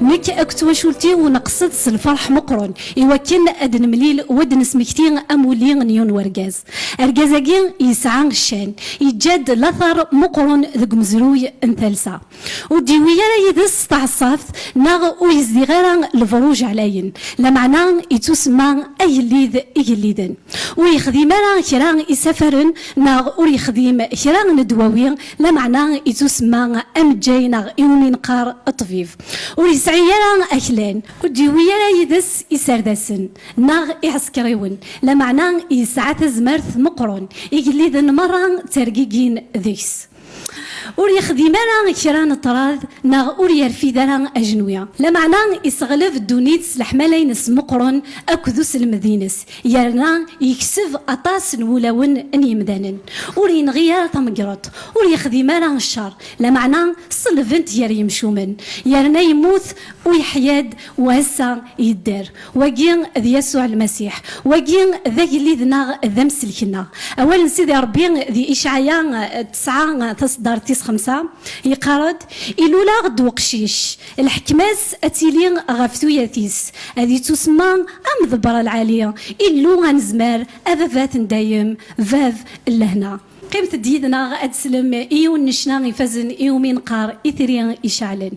Nekk akked twacult-iw neqsed s lferḥ meqqren i wakken ad nemlil u ad nesmekti amulli n yiwen wergaz. Argaz-agi yesɛa ccan, yeǧǧa-d later meqqren deg umezruy n talsa. Ur d-yewwi ara yid-s taɛeṣṣabt neɣ ur yezdiɣ ara lebṛuj ɛlayen, lameɛna yettusemma agellid igelliden. Ur yexdim ara kra isafaren neɣ ur yexdim kra n ddwawi Lameɛna yettusemma ameǧǧay neɣ i wumi neqqar ṭṭbib. Ur yesɛi ara aklan, ur d-yewwi ara yid-s iserdasen neɣ iɛsekriwen, lameɛna yesɛa tazmert meqqren, igelliden merra ttergigin deg-s. Ur yexdim ara kra n ṭṭrad neɣ ur yerfid ara ajenwi. Lameɛna yesseɣleb ddunit s leḥmala-ines meqqren akked uselmed-ines, Yerna yekseb aṭas n wulawen n yemdanen. Ur yenɣi ara tamegreḍt, ur yexdim ara ccer, lameɛna ṣellben-t gar yemcumen. Yerna yemmut u yeḥya-d u ass-a yedder. Wagi d Yasuɛ Lmasiḥ. Wagi d agellid-nneɣ d amsellek-nneɣ. Awal n Sidi Ṛebbi di Icɛaya tesɛa taṣeddart tis xemsa, yeqqar-d, Iluleɣ-d weqcic, Lḥekma-s ad tili ɣef tuyat-is, ad ittusemma am Ḍebra Lɛali, Illu anezmar, Ababat n dayem, Bab n lehna. Qqimet-d yid-neɣ ad teslem i yiwen n ccna ifazen i wumi neqqar Itri iceɛlen.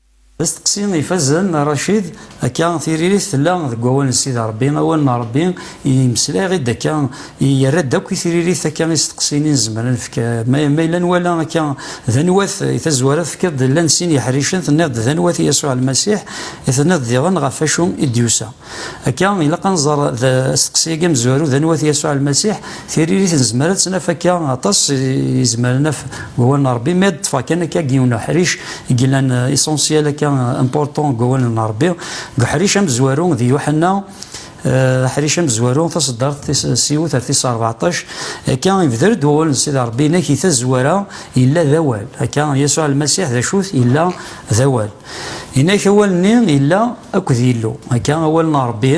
D asteqsi ifazen a Racid, akka tiririt tella deg wawal n Sidi Rebbi, awal n Rebbi yemmeslay-aɣ-id akka, yerra-d akk i tiririt akka isteqsiyen i nezmer ad nefk, ma yella nwala akka d anwa-t, i tazwara tefkiḍ-d llan sin yeḥricen, tenniḍ-d d anwa-t Yasuɛ Lmasiḥ, i tenniḍ diɣen ɣef wacu i d-yusa. Akka, ilaq ad nẓer d asteqsi-agi amezwaru d anwa-t Yasuɛ Lmasiḥ. Tiririt nezmer ad tt-naf akka aṭas yezmer ad naf deg wawal n Rebbi, mi ad ṭṭfeɣ kan akka deg yiwen uḥric i yellan essentiel akka important deg wawal n Rebbi, deg uḥric amezwaru d Yuḥenna, aḥric amezwaru taṣeddart tis siwet ar tis rbeɛṭac, akka ibder-d wawal n Sidi Rebbi, inak di tazwara yella d awal. Akka, Yasuɛ Lmasiḥ d acu-t? Yella d awal. Inak awal-nni illa akked Yillu. Akka awal n Ṛebbi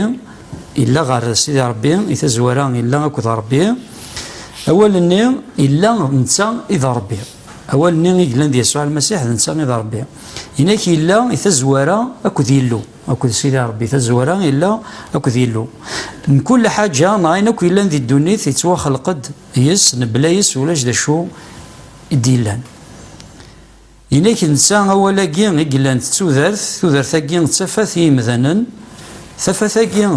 illa ɣer Sidi Ṛebbi, i tazwara illa akked Ṛebbi. Awal-nni illa d netta i d Ṛebbi. Awal-nni i yellan d Yasuɛ Lmasiḥ d netta i d Ṛebbi. Inak illa i tazwara akked Yillu, akked Sidi Ṛebbi, tazwara illa akked Yillu. Mkul ḥaǧa neɣ ayen akk yellan di ddunit yettwaxleq-d yes-s, mebla yes-s ulac d acu i d-yellan. Inak netta awal-agi i yellan d tudert, tudert-agi d tafat i yimdanen, tafat-agi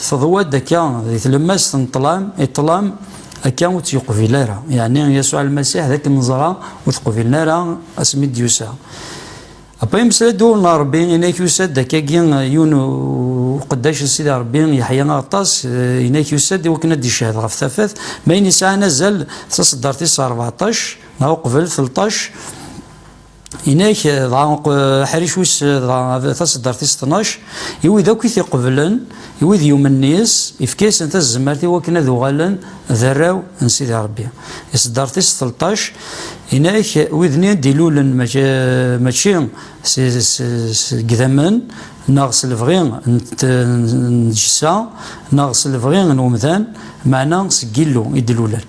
teḍwa-d akka di tlemmast n ṭṭlam, i ṭṭlam akka ur tt-yeqbil ara, yeɛni Yasuɛ Lmasiḥ d akken neẓra ur t-qbilen ara asmi i d-yusa. Apa yemmeslay-d uwel n Rebbi, inak yusa-d akkagi yiwen uqeddac n Sidi Rebbi, Yeḥya Aɣeṭṭas, inak yusa-d i wakken ad d-icehhed ɣef tafat, ma ayen yesɛan azal d taṣeddart-is rbeɛṭac, Dɣa uqbel telṭac, inak dɣa aḥric wis dɣa taseddart-is tnac, i wid akk i t-iqeblen, i wid yumen yis, ifka-yasen tazemmart i wakken ad uɣalen d arraw n Sidi Rebbi. Iseddart-is telṭac, inak wid-nni i d-ilulen mačči seg idammen neɣ s lebɣi n tgessa neɣ s lebɣi n umdan, meɛna seg Yillu i d-lulen.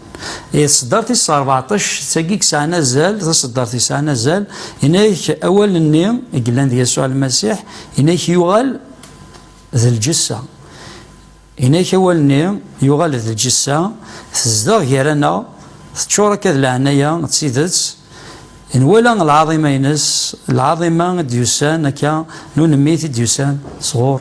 Iṣeddart is ṛebɛṭac d tagi yesɛan azal, taṣeddart yesɛan azal, yenna-ak awal-nni i yellan d Yasuɛ Lmasiḥ, yenna-ak yuɣal d lǧessa. Yenna-ak awal-nni yuɣal d lǧessa, tezdeɣ gar-aneɣ, teččur akka d leɛnaya d tidet, nwala lɛaḍima-ines, lɛaḍima i d-yusan akka n unemmit i d-yusan sɣur.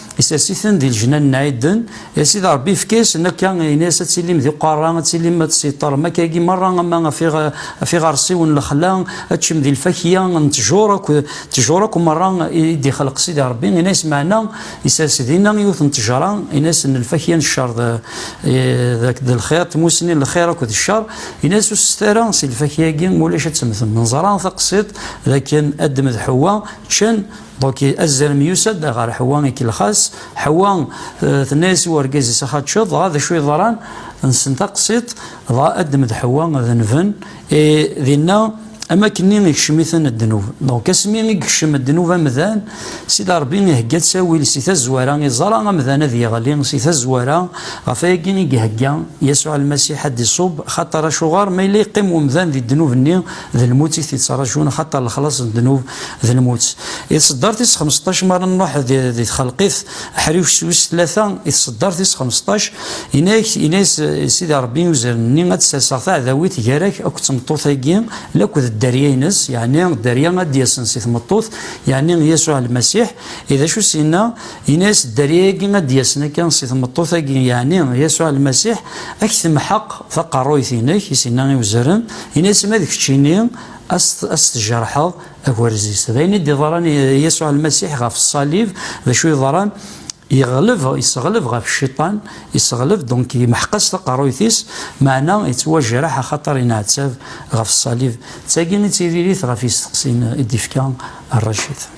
Isers-iten di lejnan n Ɛiden, a Sidi Ṛebbi ifka-yasen akka, yenna-yas ad tilim d iqerra, ad tilim ad tessiṭṭarem akka-agi meṛṛa, ama af iɣersiwen n lexla, ad teččem di lfakya n ttjur akk, ttjur akk meṛṛa i d-ixleq Sidi Ṛebbi, yenna-yas meɛna isers dinna yiwet n ttejṛa, yenna-yas n lfakya n cceṛ d lxiṛ, tmussni n lxiṛ akked cceṛ, yenna-yas ur sset ara si lfakya-agi ma ulac ad temmtem, neẓra taqsiḍt d akken Adem d Ḥewwa ččan, Donc azrem yusa-d ɣer Ḥwa ikellex-as. Ḥwa euh, tenna-as i urgaz-is axa teččeḍ, dɣa d acu yeḍran? Nsen taqsiṭ, dɣa addem d Ḥwa ad nven. Et dinna am akken ikcem-iten ddnub. Donc asmi i yekcem ddnub amdan, Sidi Ṛebbi ihegga ttawil si tazwara, iẓra amdan ad yeɣli si tazwara, ɣef ayagi i ihegga Yasuɛ Lmasiḥ ad d-iṣubb, xaṭer acuɣer ma yella yeqqim umdan di ddnub-nni, d lmut i t-ittrajun axaṭer lexlaṣ n ddnub d lmut. I tṣeddart is xmesṭac mara Nuḥ di txelqit aḥriwec s wis tlata, i tṣeddart is xmesṭac, yenna-ak, yenna-yas Sidi Ṛebbi i uzrem-nni, Ad d-serseɣ taɛdawit gar-ak akked tmeṭṭut-agi lakk d dderya-ines, yeɛni dderya ad d-yasen si tmeṭṭut, yeɛni Yasuɛ Lmasiḥ, i d acu s-yenna? Yenna-yas dderya-agi ad d-yasen akka si tmeṭṭut-agi, yeɛni Yasuɛ Lmasiḥ, ad k-temḥeq taqerruyt-inek, i s-yenna i uzrem, yenna-yas ma d keččini a s-tjerḥeḍ agerz-is. D ayen i d-iḍran i Yasuɛ Lmasiḥ ɣef ṣṣalib, d acu yeḍran? Yeɣleb, yesseɣleb ɣef Cciṭan, yesseɣleb, donc yemḥeq-as taqerruyt-is, meɛna yettwajreḥ axaṭer yenɛettab ɣef ṣṣalib. D tagi i d tiririt ɣef yisteqsiyen i d-ifka Racid.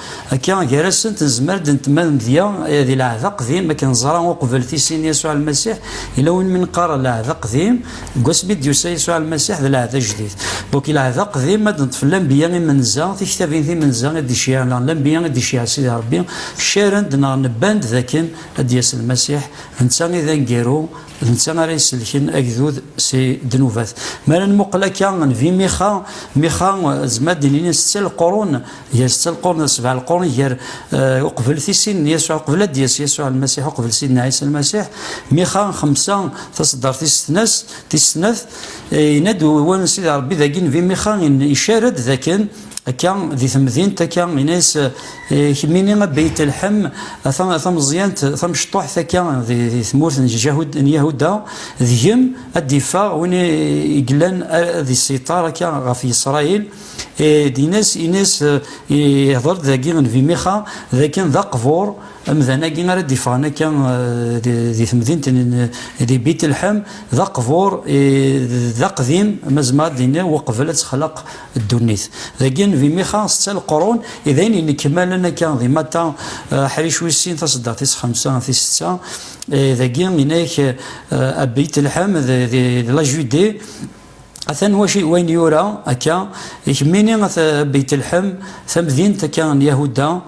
Akka, gar-asent, nezmer ad d-neṭṭem amedya di lɛehd aqdim, akken neẓra uqbel tissin n Yasuɛ Lmasiḥ, yella win mi neqqar lɛehd aqdim, deg wasmi i d-yusa Yasuɛ Lmasiḥ d lɛehd ajdid. Bokk lɛehd aqdim ad d-neṭṭef lanbiya imenza, tiktabin timenza i d-iceyyeɛ neɣ lanbiya i d-iceyyeɛ Sidi Ṛebbi, caren-d neɣ nebban-d d akken ad d-yas Lmasiḥ, d netta i d aneggaru, d netta ara isellken agdud si ddnubat. Mi ara nmuqel akka, nbi Mixa, Mixa, nezmer ad d-nini netta leqrun Gar setta lqurn d sebɛa lqurn, gar eh, uqbel tisin n Yasuɛ, uqbel ad d-yas Yasuɛ lmasiḥ, uqbel sidna Ɛisa lmasiḥ, mixa xemsa taṣeddart tis tnas, tis snat, eh, yenna-d wan Sidi Rebbi dagi nebi mixa icara-d dakken akka di temdint akka yenna-yas eh, kemmini a Beyt Lḥem a ta- a tameẓyant tamecṭuḥt akka di di tmurt n Jahud- n Yahuda deg-m ad d-iffeɣ win i i yellan ad issiṭar akka ɣef Yisṛayil Din-as, in-as, ihder-d dagi Nnbi Mixa, d akken d aqbur, amdan-agi ara d-iffɣen akka di temdint di Bitelḥem, d aqbur, d aqdim, ma zemreɣ ad d-iniɣ, uqbel ad texlaq ddunit. Dagi Nnbi Mixa, setta leqrun, i d ayen yennekmalen akka di Matta, aḥric wis sin, taseddaɣ tis xemsa, tis setta, dagi, in-ak, a Bitelḥem, d la Judée, Atan waci, wayen yura akka, i kemmini a Beytelḥem, tamdint akka n Yahuda,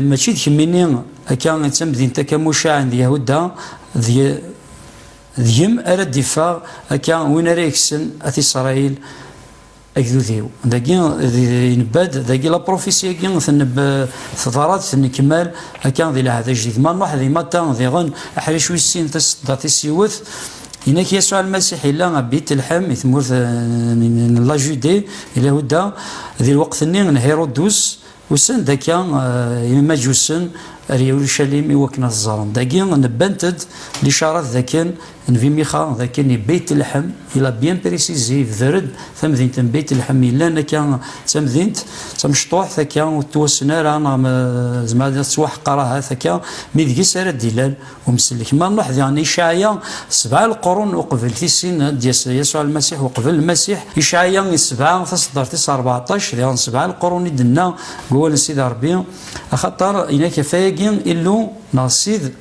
mačči d kemmini akka i d tamdint akka mucaɛen d Yahuda, deg-m ara d-iffeɣ akka win ara yekksen at Isṛayil agdud-iw. Dagi inebba-d, dagi laprufisi-agi teḍra-d, tennekmal akka di lɛahd ajdid. Ma nṛuḥ di Mata diɣen, aḥric wis sin, tasedda tis yiwet, Yenna-k Yasuɛ Lmasiḥ yella a Bitelḥem i tmurt n Lajude, i Lahuda, di lweqt-nni n Hiṛudus, usan-d akka Imaǧusen ar Yarucalim i wakken ad t-ẓren. Dagi nebbant-d licaṛat dakken n Vimixa dakken i Bitelḥem, il a bien précisé, yebder-d tamdint n Bitelḥem yellan akka d tamdint d tamecṭuḥt akka ur tettwassen ara neɣ zemreɣ ad iniɣ tettwaḥqer ahat akka mi deg-s ara d-ilal Umsellek ma nruḥ diɣen Icaɛya, sebɛa lqrun uqbel tissin ad d-yas Yasuɛ Lmasiḥ uqbel Lmasiḥ. Icaɛya i sebɛa, taṣeddart tis rbeɛṭac, diɣen sebɛa lqrun i d-tenna deg wawal n Sidi Ṛebbi, axaṭer in-ak ɣef wayagi Illu neɣ Ssid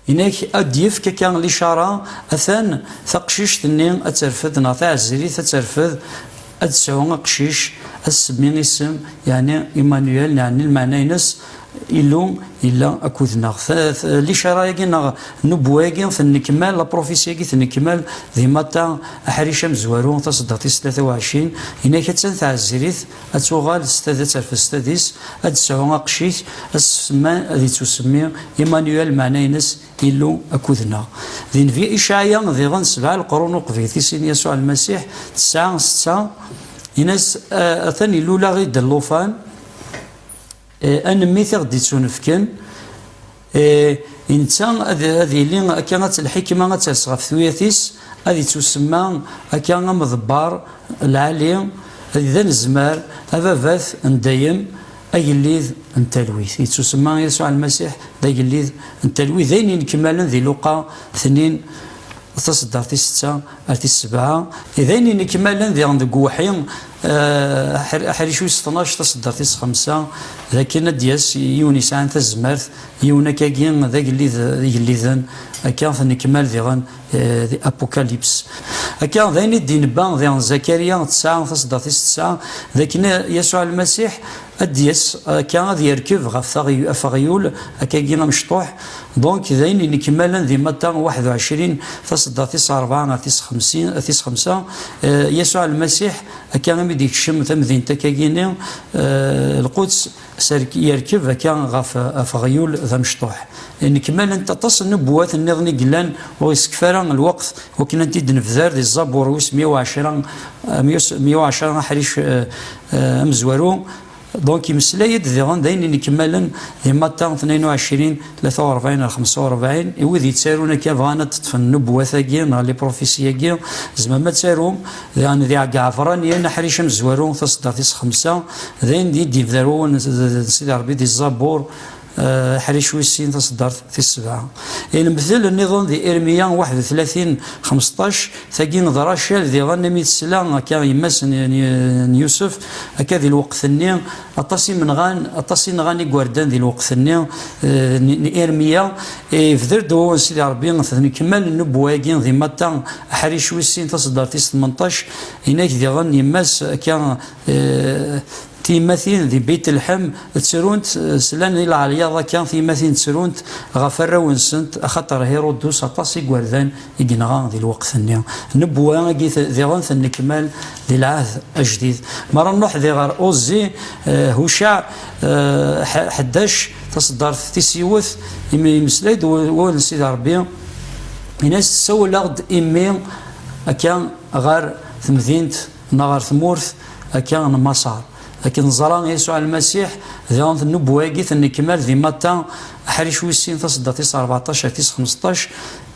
in-ak ad d-yefk akka licaṛa, atan taqcict-nni ad terfed neɣ taɛezirit ad terfed, Ad d-tesɛu aqcic asemmi isem, yeɛni Imanuel, neɛni lmeɛna-ines Illu yella akkudneɣ. Licara-agi neɣ nubwa-agi tennekmal, la prophétie-agi tennekmal di Matta, aḥric amezwaru, taseddaṭ tis tlata u ɛecrin, yenna-ak attan tɛezrit, ad tuɣal s tadett ar fes tadist, ad d-tesɛu aqcic asemmi ad ittusemmi Imanuel, lmeɛna-ines Illu akked-neɣ. Di Nnbi Icaɛya, diɣen sebɛa leqrun uqbit, i sin Yasuɛ Lmasiḥ, tesɛa, setta, in-as, Atan ilul-aɣ-id llufan, a nemmit i ɣ-d-ittunefken, i netta ad yili akka ad lḥikma ad ters ɣef tuyat-is, ad ittusemma akka am Ḍebbar, Lɛali, d anezmar, Ababat n dayem, Agellid n talwit. Yettusemma Yasuɛ Lmasiḥ d agellid n talwit, d ayen yenekmalen di Luqa tnin, taṣeddart tis setta ar tis sebɛa, d ayen yenekmalen diɣen deg Uwḥi aḥric wis tnac, taṣeddart tis xemsa, d akken ad d-yas yiwen yesɛan tazmert, yiwen akkagi d agellid igelliden, akka tennekmal diɣen Eh, the Apocalypse. Akka, d ayen i d-inebba diɣen Zakariya tesɛa tasdaṭ-is tesɛa, d akken Yasuɛ Lmasiḥ ad d-yas akka ad yerkeb ɣef afeɣyul akkagi amecṭuḥ, donc d ayen inekmalen di Matta 21, tasdaṭ-is rebɛa ar tis xemsa, eh, Yasuɛ Lmasiḥ akka imi d-ikcem tamdint akkagi-ni, eh, Lquds, yerkeb akka ɣef ɣef aɣyul d amecṭuḥ. Nnekmalent aṭas n nubuwat nniḍen i yellan ur isekfi ara lweqt wakken ad t-id-nebder di ẓẓabur wis mya u ɛecra, mya u ɛecra aḥric amezwaru, donc yemmeslay-d diɣen d ayen n yikemmalen di Matta tnayen u ɛecrin, tlata urebɛin ar xemsa urebɛin, i wid yettarun akka bɣan ad d-ṭṭfen nubwat-agi neɣ liprofisi-agi, tzemrem ad tarum, daɣen di Ɛegɛefraniyen, aḥric amezwaru, taṣeddart tis xemsa, d ayen d i d-yebda ar wawal n Sidi Rebbi di Zzabur, aḥric wis sin, taṣeddart tis sebɛa. I lemtel nniḍen di Irmiya waḥed u tlatin, xmesṭac, tagi d Racal diɣen, imi tesla akka yemma-s n Yusef, akka di lweqt-nni, Aṭas imenɣan, aṭas i nɣan igerdan di lweqt-nni eh, n Irmiya. Ibder-d eh, wawal Sidi Rebbi d nekmal n nubuwa-agi di Matta, aḥric wis sin, taṣeddart-is tmenṭac, inak diɣen yemma-s akka eh, tiyemmatin di Beit Lḥem ttrunt, slan i lɛelyaḍ akka tiyemmatin ttrunt ɣef arraw-nsent, axaṭer Hirudus aṭas igerdan i yenɣa di lweqt-nni n nnebwa-agi diɣen tennekmal di lɛahd ajdid. Mi ara nruḥ di ɣer Uẓi, Hucaɛ ḥdac, taṣeddart tis yiwet, imi yemmeslay-d wawal n Sidi Ṛebbi, yenna-as, Ssawaleɣ-d imi akka ɣer temdint neɣ ɣer tmurt akka n Maṣer, akken neẓra Yasuɛ Lmasiḥ, diɣen tennebwa-agi tennekmal di Matta aḥric wis sin taṣeddart tis ṛebɛṭac ar tis xmesṭac.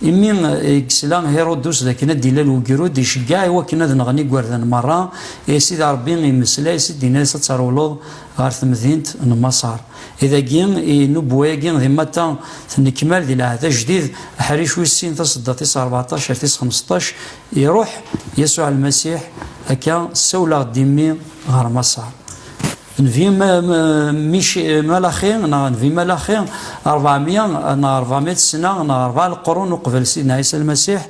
Imi i yesla Hirudus d akken ad d-ilal ugrud, iceggeɛ i wakken ad nɣen igerdan merra, i Sidi Ṛebbi immeslay-as-id, yenna-as, Ad trewleḍ ɣer temdint n Maṣer. I dagi, i nubuwa-agi di Matta, tennekmal di Lɛehd Ajdid, aḥric wis sin, tasedda tis ṛbeɛṭac ar tis xmesṭac, iṛuḥ Yasuɛ Lmasiḥ akka, Ssawleɣ-d i mmi ɣer Maṣer. Nbi Malaxi neɣ Nbi Malaxi, ṛebɛa mya neɣ ṛebɛa mya d sna neɣ ṛebɛa leqrun uqbel Sidna Ɛisa Lmasiḥ,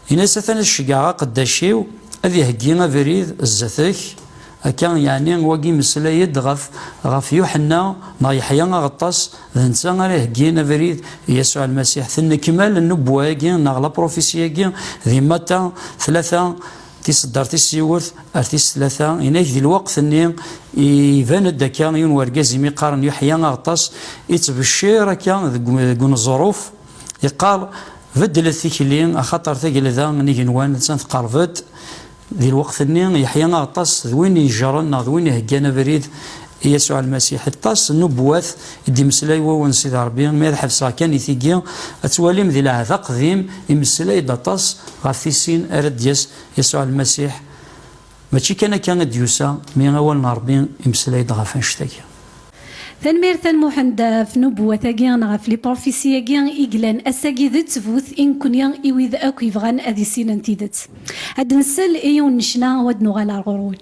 yenna-as, Atan ad ceggɛeɣ aqeddac-iw ad iheggi abrid zdat-k, akka yeɛni wagi imeslay-d ɣef ɣef Yuḥenna neɣ Yeḥya Aɣeṭṭas, d netta ara iheggin abrid i Yasuɛ Lmasiḥ. Tennekmal nnubwa-agi neɣ laprufisya-agi di Mata tlata Tiseddar tis yiwet ar tis tlata, inak di lweqt-nni iban-d akka yiwen wergaz imi qqaren Yuḥya Aɣeṭṭas ittbeccir akka deg uneẓruf, iqqar, Beddlet tikli, axaṭer tagelda n igenwan attan teqreb-d. Di lweqt-nni, Yeḥya Aɣeṭṭas d win ijren neɣ d win iheggan abrid i Yasuɛ Lmasiḥ. Aṭas n ubuwat i d-imeslay Wawal n Sidi Ṛebbi, mi ad ḥebseɣ kan i tigi, ad twalim di Lɛehd Aqdim imeslay-d aṭas ɣef tissin ara d-yas Yasuɛ Lmasiḥ. Mačči kan akka i d-yusa, mi Awal n Ṛebbi imeslay-d ɣef annect-agi. Tanemmirt a Lmuḥend ɣef nubuwat-agi neɣ ɣef liprufisi-agi i yellan ass-agi d ttbut i nekkni i wid akk yebɣan ad issinen tidet. Ad d-nsel i yiwen n ccna u ad d-nuɣal ar ɣur-wen.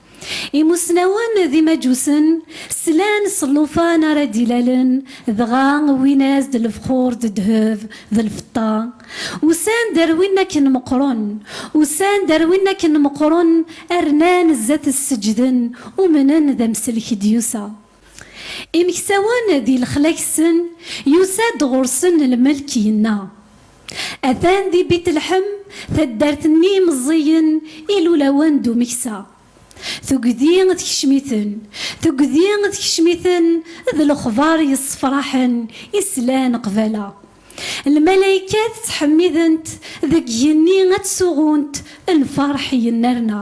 Imusnawen d imaǧusen slan s llufan ara d-ilalen, dɣa wwin-as-d lefxur d ddheb d lfeṭṭa. Usan-d ar win akken meqqren, usan-d ar win akken meqqren, rnan zdat-s seǧǧden, umnen d amsellek i d-yusa. Imeksawen di lexla-ksen yusa-d ɣur-sen lmelk yenna, Atan di Bitlḥem taddart n yimeẓẓiyen ilulawen d umeksa. Tugdi tekcem-iten, tugdi tekcem-iten d lexbar yessefraḥen i slan qbala. Lmalaykat ttḥemmident deg yigenni ad d-suɣunt lferḥ yennerna.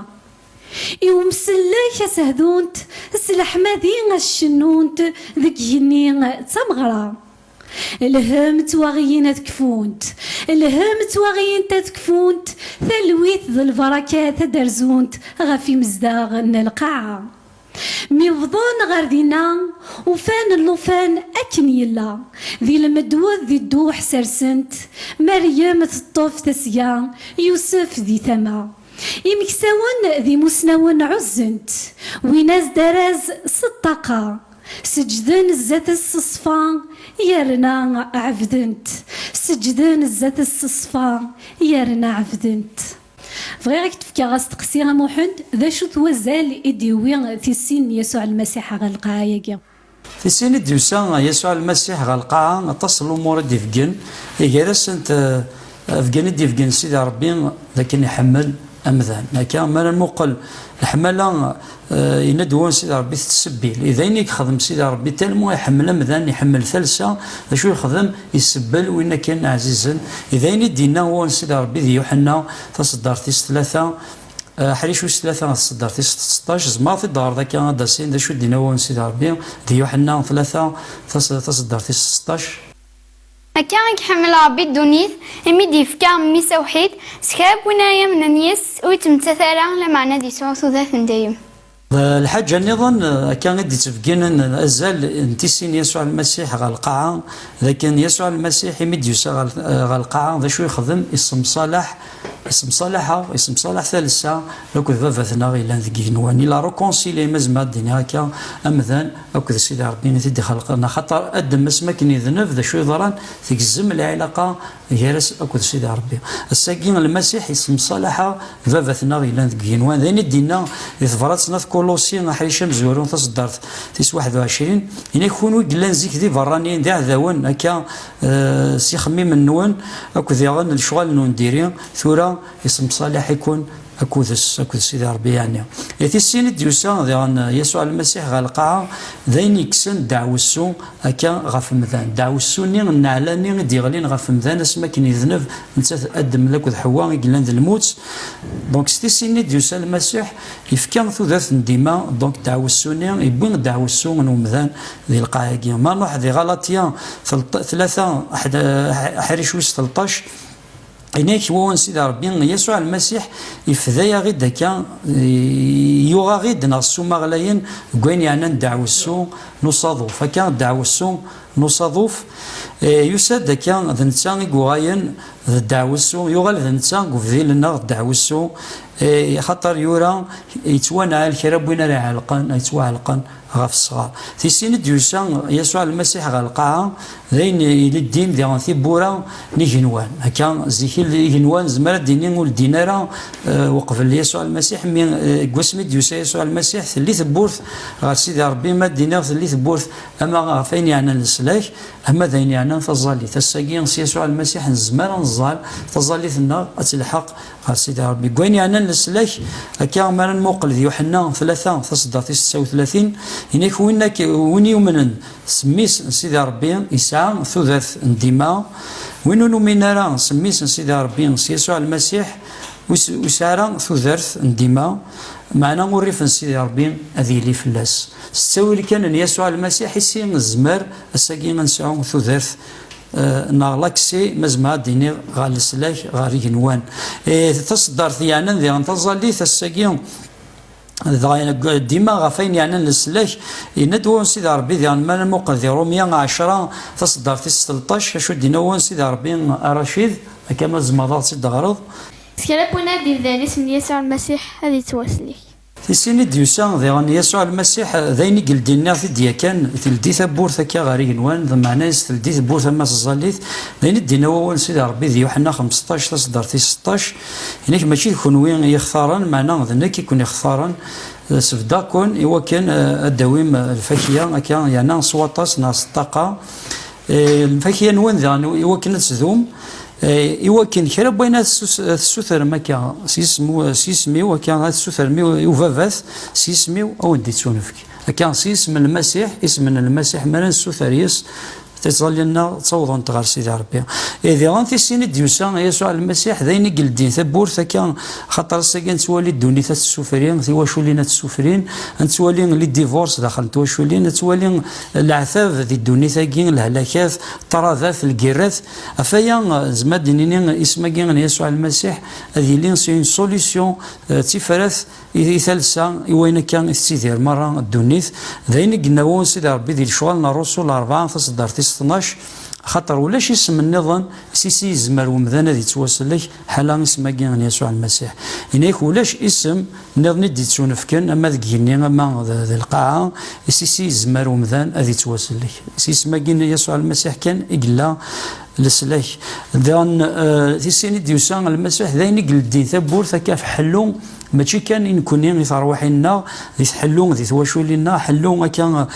I umsellek a s-hdunt, s leḥmadi a s-cennunt, deg yigenni d tameɣra. Lhem ttwaɣiyin ad kfunt, lhem ttwaɣiyint ad kfunt, talwit d lbarakat ad d-rzunt ɣef imezdaɣ n lqaɛa. Mi wwḍen ɣer dinna, ufan llufan akken yella, di lmedwed di dduḥ sersen-t, Meryem teṭṭef tasga, Yusef di tama. Imeksawen d imusnawen ɛuzzen-t, wwin-as-d araz s ṭṭaqa, seǧǧden zdat-s s ṣṣfa, yerna ɛebden-t, seǧǧden zdat-s s ṣṣfa, yerna ɛebden-t. Bɣiɣ ad k-d-fkeɣ asteqsi a Muḥend, d acu-t wazal i d-yewwi tissin n Yasuɛ Lmasiḥ ɣer lqaɛa-agi? Tissin i d-yusa Yasuɛ Lmasiḥ ɣer lqaɛa, aṭas n lumuṛ i d-ibeggen, gar-asent abeggen i d-ibeggen Sidi Ṛebbi d akken iḥemmel amdan. Akka, mi ara nmuqel leḥmala Eh, yenna-d wan Sidi Ṛebbi tettsebbir. Eh, d ayen i yexdem Sidi Ṛebbi talmu iḥemmel amdan, iḥemmel talsa, d acu yexdem? Isebbel win akken ɛzizen. Eh, d ayen i d-yenna wan Sidi Ṛebbi di Yuḥenna taṣeddart tis tlata, aḥric wis tlata ɣer tṣeddart tis tseṭṭac. Tzemreḍ ad t-id-taɣreḍ akka ad d-tasin d acu i d-yenna wan Sidi Ṛebbi di Yuḥenna tlata taṣeddart tis tseṭṭac. Akka i iḥemmel Ṛebbi ddunit, imi d-yefka Mmi-s awḥid, s kra n win ara yamnen yis-s, ur yettmettat ara, lameɛna ad yesɛu tudert n dayem. Lḥaǧa nniḍen, akka i d-ittbegginen azal n tissin n Yasuɛ Lmasiḥ ɣer lqaɛa, d akken Yasuɛ Lmasiḥ, imi d-yusa ɣer lqaɛa, d acu i ixdem? Issemṣalaḥ. Isemsalaḥ-a, isemsalaḥ talsa akked baba-tneɣ yellan deg yigenwan. Il a reconcilié, ma zemreɣ ad d-iniɣ akka, amdan akked Sidi Ṛebbi-n i t-id-ixelqen. Axaṭer Adem-s mi akken idneb d acu yeḍran, tgezzem lɛilaqa gar-as akked Sidi Ṛebbi. Ass-agi, Lmasiḥ isemsalaḥ-a baba-tneɣ yellan deg yigenwan. D ayen i d-inna di tebṛat n At Kuluṣi, aḥric amezwaru, taṣeddart tis waḥed u ɛecrin, Ini-ak, kunwi yellan zik d ibeṛṛaniyen, d iɛdawen, akka s ixemmimen-nwen akked diɣen lecɣal n undiri, tura isemṣalaḥ-ikun akud-s, akked Sidi Rebbi yeɛni. I tis sin i d-yusa diɣen Yasuɛ Lmasiḥ ɣer lqaɛa, d ayen yekksen ddeɛwessu akka ɣef umdan, ddeɛwessu-nni n nneɛla-nni i d-yeɣlin ɣef umdan asmi akken yedneb netta d Adem akked Ḥewwa i yellan d lmut, donc s tis sin i d-yusa Lmasiḥ, yefka tudert n dima, donc ddeɛwessu-nni, yewwi ddeɛwessu n umdan, Di lqaɛa-agi, ma nruḥ di Ɣalaṭya tlata aḥric wis telṭac, Ini-ak i wawal n Sidi Ṛebbi, Yasuɛ Lmasiḥ ifda-yaɣ-id akka, yuɣ-aɣ-id neɣ s umaɣlayen deg wayen yeɛnan ddeɛwessu n usaḍuf. Akka, ddeɛwessu n usaḍuf yusa-d akka, d netta i yuɣalen d ddeɛwessu, yuɣal d netta i ubdil-nneɣ d ddeɛwessu, axaṭer yura, Yettwanɛel kra n win ara iɛelqen, ad yettwaɛelqen ɣef ṣṣɣer. Tis sin i d-yusa Yasuɛ Lmasiḥ ɣer lqaɛa, d ayen iliddin di tiwwura n yigenwan. Akka, zik igenwan nezmer ad d-nini ur ldin ara uqbel Yasuɛ Lmasiḥ, mi deg wasmi i d-yusa Yasuɛ Lmasiḥ telli tewwurt ɣer Sidi Rebbi, ma d-iniɣ telli tewwurt ama ɣef ayen yeɛnan leslak, ama d ayen yeɛnan taẓallit. Ass-agi s Yasuɛ Lmasiḥ nezmer ad neẓẓal taẓallit-nneɣ ad telḥeq A Sidi Ṛebbi, deg wayen yeɛnan leslak, akka mi ara nmuqel di Yuḥenna tlata, tasedda tis setta u tlatin, yenna-k, Win ak, win yumnen s mmi-s n Sidi Ṛebbi, yesɛa tudert n dima, win ur numin ara s mmi-s n Sidi Ṛebbi, s Yasuɛ Lmasiḥ, ur yesɛi ara tudert n dima, meɛna urrif n Sidi Ṛebbi ad yili fell-as. S ttawil kan n Yasuɛ Lmasiḥ i si nezmer ass-agi ad nesɛu tudert. Eh, neɣ laksi ma zemreɣ ad d-iniɣ ɣer leslak ɣer igenwan eh, taseddart yeɛnan diɣen taẓallit ass-agi dɣa dima ɣef ayen yeɛnan leslak yenna-d wansi d rebbi diɣen ma nemuqel di rumya ɛecra taseddart is telṭac acu d-inna wansi d rebbi aracid akka ma tzemreḍ ad tt-id-teɣreḍ kra n wanadi bdan isem n yasuɛ lmasiḥ ad yettwaslek Tisin i d-yusa diɣen Yasuɛ Lmasiḥ, d ayen i yeldi nniɣ t-id yakan, teldi tawwurt akka ɣer igenwan, d meɛna yes teldi tewwurt ama teẓẓallit, d ayen i d-inna wawal n Sidi Rebbi di Yuḥenna xemseṭṭac taseddart tis seṭṭac, Ini-k mačči d kunwi i yi-xtaren, meɛna d nekk i ken-ixtaren, sebdeɣ-ken i wakken ad d-tawim lfakya akka yerna s waṭas neɣ s ṭṭaqa, lfakya-nwen diɣen i wakken ad tdum, Eh, iwakken kra n wayen ad tessutrem akka s yisem-iw akka ad tessutrem i ubabat s yisem-iw ad wen-d-ittunefk akka s yisem n lmasiḥ isem n lmasiḥ mi ara nessuter yes tiẓalin-nneɣ ttawḍent ɣer sidi rebbi eh, diɣen tisin i d-yusa yasuɛ lmasiḥ d ayen i yeldin tawwurt akka xaṭer ass-agi ad nettwali ddunit ad tessufri tiwaculin ad tessufrin ad nettwali li divors daxel n twaculin ad nettwali leɛtab di ddunit-agi lehlakat ṭṭradat lgirrat Ɣef waya, nezmer ad d-nini isem-agi n Yasuɛ Lmasiḥ ad yili s une solution, d tifrat i talsa i wayen akka i tettidir merra ddunit. D ayen i yenna u Sidi Rebbi di lecɣal n Rrusul Arbaɛ, taṣeddart tis tnac, Axaṭer ulac isem nniḍen s is i yezmer wemdan ad ittwasellek, Ḥala isem-agi n Yasuɛ Lmasiḥ. Yenna-ak ulac isem nniḍen i d-ittunefken, ama deg yigenni ama di lqaɛa, i s-is yezmer umdan ad ittwasellek. S yisem-agi n Yasuɛ Lmasiḥ kan i yella leslak. Daɣen, di sin i d-yusa Lmasiḥ, d ayen i yleddin tawwurt akka ɣef ḥellu, mačči kan i nekkni, i terwiḥin-nneɣ, di tḥellu, di twaculin-nneɣ, ḥellu akka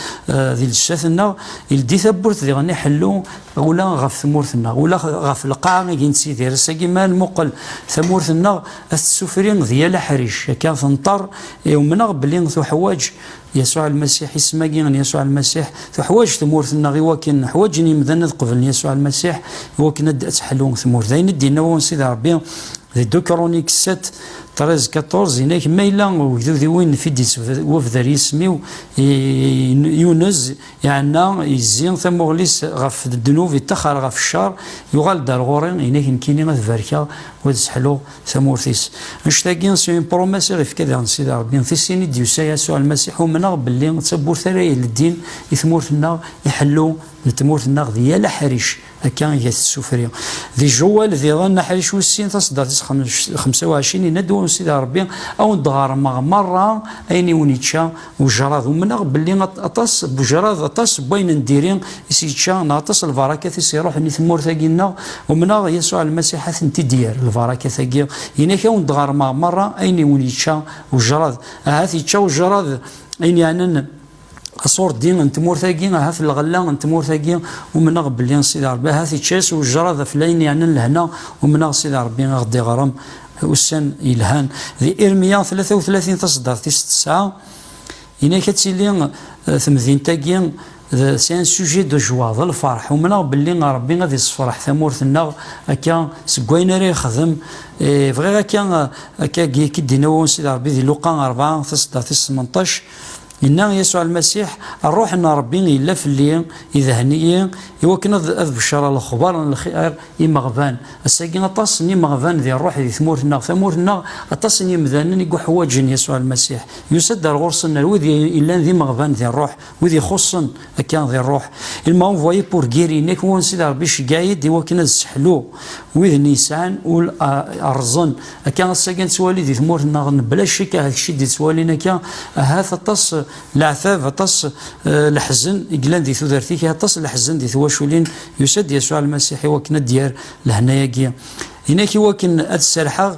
di llesat-nneɣ, ildi tawwurt diɣen i ḥellu, ula ɣef tmurt-nneɣ, ula ɣef lqaɛa agi nettidir. Ass-agi ma nmuqel tamurt-nneɣ ad tessufri d yal aḥric, akka tenṭer. Umneɣ belli tuḥwaǧ Yasuɛ Lmasiḥ, isem-agi n Yasuɛ Lmasiḥ, tuḥwaǧ tmurt-nneɣ i wakken ḥwaǧen yimdanen ad qeblen Yasuɛ Lmasiḥ, i wakken ad d-teḥlu tmurt. D ayen i d-yenna wawal n Sidi Ṛebbi di Ducronique 7, 13, 14, yenna-ak, Ma yella ugdud i win n Fidis wabder yisem-iw, yunez, Iɛenna, yezzi tamuɣli-s ɣef ddnub, ittaxxar ɣef ccer, yuɣal-d ar ɣur-i, ini-ak nekkini ad barkeɣ u ad sseḥluɣ tamurt-is. Annect-agi, s impromess i ɣ-ifka daɣen Sidi Rebbi, n tissin i d-yusa Yasuɛ Lmasiḥ, umneɣ belli d tawwurt ara yeleddin i tmurt-nneɣ, iḥellu n tmurt-nneɣ di yal aḥric. Akka iga tessufri. Di Jewal diḍen aḥric wis sin taṣeddart-is xemsa u ɛecrin yenna-d wa Sidi Ṛebbi ad wen-d-ɣermeɣ meṛṛa ayen i wen-ičča wejṛad. Umneɣ belli aṭas n wejṛad, aṭas n wayen n diri i s-yečča neɣ aṭas n lbarakat i s-iṛuḥen i tmurt-agi-nneɣ. Umneɣ Yasuɛ Lmasiḥ ad tent-id-yerr lbarakat-agi. Ini-ak ad wen-d-ɣermeɣ meṛṛa ayen i wen-ičča wejṛad. Ahat ičča wejṛad ayen yeɛnan. aṣurdi n tmurt-agi, ahat lɣella n tmurt-agi, umneɣ belli Sidi Ṛebbi ahat ičča-yas wejraḍ ɣef layen yeɛnan lehna, umneɣ Sidi Ṛebbi i ɣ-d-iɣrem ussan yelhan. Di Irmiya tlata u tlatin taṣeddart tis tesɛa, yenna-ak ad tili eh, temdint-agi d c'est un sujet de joie, d lferḥ, umneɣ belli Ṛebbi ad iṣefreḥ tamurt-nneɣ akka seg wayen ara yexdem. Eh, bɣiɣ akka, eh, akka-agi, k-id-inna Sidi Ṛebbi di Luqa rebɛa taṣeddart tis semenṭac, Yenna Yasuɛ Lmasiḥ, Ṛṛuḥ n Ṛebbi yella fell-i, idhen-iyi i wakken ad beccṛeɣ lexbaṛ n lxiṛ i imeɣban. Ass-agi, aṭas n imeɣban di ṛṛuḥ di tmurt-nneɣ, tamurt-nneɣ, aṭas n yemdanen i yuḥwaǧen Yasuɛ Lmasiḥ. Yusa-d ar ɣur-sen, ar wid yellan d imeɣban di ṛṛuḥ, wid ixuṣṣen Akka di rruḥ, il m'a envoyé pour guérir, nek wansi d Rebbi cegga-yi-d i wakken ad sseḥluɣ wid n yesɛan ul rrẓen. Akka ass-agi nettwali di tmurt-nneɣ n bla ccek ahat kečč i d-ittwalin akka, ahat aṭas leɛtab, aṭas leḥzen i yellan di tudert-ik, aṭas leḥzen di twaculin, yusa-d Yasuɛ Lmasiḥ i wakken ad d-yerr lehnayagi i nek i wakken ad d-serrḥeɣ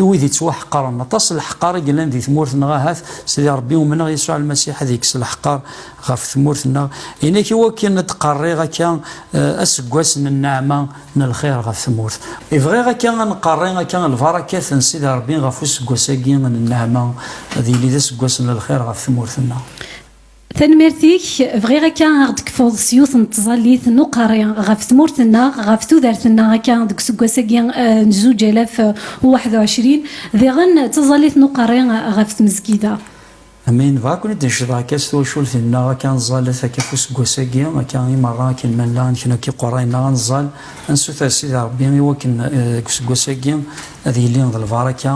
I wid yettwaḥeqren, aṭas n leḥqar i yellan di tmurt neɣ ahat, Sidi Rebbi, umneɣ Yasuɛ Lmasiḥ ad yekkes leḥqar ɣef tmurt nneɣ, i nekk i wakken ad d-qerriɣ akka aseggas n nneɛma n lxir ɣef tmurt. I bɣiɣ akka ad nqerri akka lbarakat n Sidi Rebbi ɣef useggas-agi n nneɛma, ad yili d aseggas n lxir ɣef tmurt nneɣ. Tanemmirt-ik, bɣiɣ akka aɣ d-kfuḍ s yiwet n tẓallit n uqerri ɣef tmurt-nneɣ, ɣef tudert-nneɣ akka deg useggas-agi n zuǧ alaf u waḥed u ɛecrin, diɣen d taẓallit n uqerri ɣef tmezgida. Amin, dɣa ad ken-id-necdeɣ akka s twacult-nneɣ akka ad nẓal akka ɣef useggas-agi akka i meṛṛa akken ma nella ad neknu akka iqerra-nneɣ ad nẓal, ad nessuter Sidi Ṛebbi i wakken deg useggas-agi ad yili d lbaṛaka,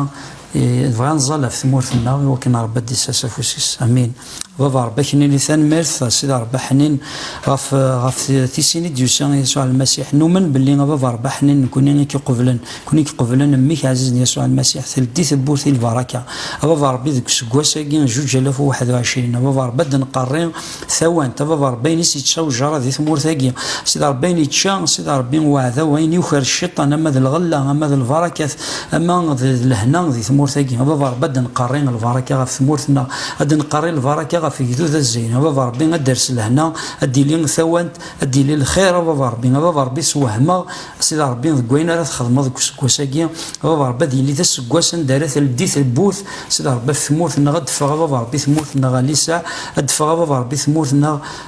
dɣa ad nẓal ɣef tmurt-nneɣ i wakken Ṛebbi ad d-isers afus-is. Amin. baba rebbi ak nini tanemmirt a sida rebbi ḥnin ɣef ɣef tisin i d-yusa Yasuɛ Almasiḥ numen belli a baba rebbi ḥnin nekuni i k-iqublen nekuni i k-iqublen mmi-k ɛzizen Yasuɛ Almasiḥ teldi tewwurt i lbaraka a baba rebbi deg useggas-agi juǧ alaf u waḥed u ɛecrin a baba rebbi ad d-nqerri tawant a baba rebbi ayen i s-yečča ujaṛa di tmurt-agi a sida rebbi ayen yečča a sida rebbi uɛdaw ayen yuker cciṭan ama d lɣella ama d lbarakat ama d lehna di tmurt-agi a baba rebbi a d-nqerri lbaraka ɣef tmurt-nneɣ a d-nqerri lbaraka ɣef igdud azzayri a baba rebbi a d-ters lehna a d-tili tawant a d-yili lxir a baba rebbi a baba rebbi sewhem-aɣ a sida rebbi deg wayen ara txedmeḍ deg useggas-agi a baba rebbi ad yili d aseggas anda ara teldi telbut a sida rebbi af tmurt-nneɣ a d-teffeɣ a baba rebbi tmurt-nneɣ a lisaɛ a d-teffeɣ a baba rebbi tmurt-nneɣ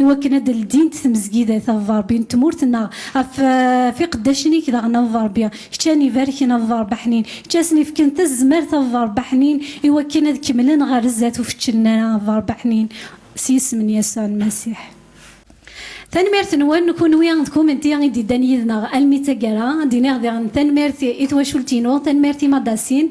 i wakken ad d-ldint tmezgidat a Ḍḍerbi n tmurt-nneɣ, ɣef ɣef iqeddacen-ik daɣen a Ḍḍerbi, kečč a n-ibarken a Ḍḍerb Aḥnin, kečč a sen-ifken tazmert a Ḍḍerb Aḥnin i wakken ad kemmlen ɣer zdat ur feččlen ara a Ḍḍerb Aḥnin, s yisem n Yasuɛ n Masiḥ. Tanemmirt-nwen, kunwi d kumenti i d-yeddan yid-neɣ almi d taggara, ad d-iniɣ diɣen tanemmirt i twacult-inu, tanemmirt i Madasin,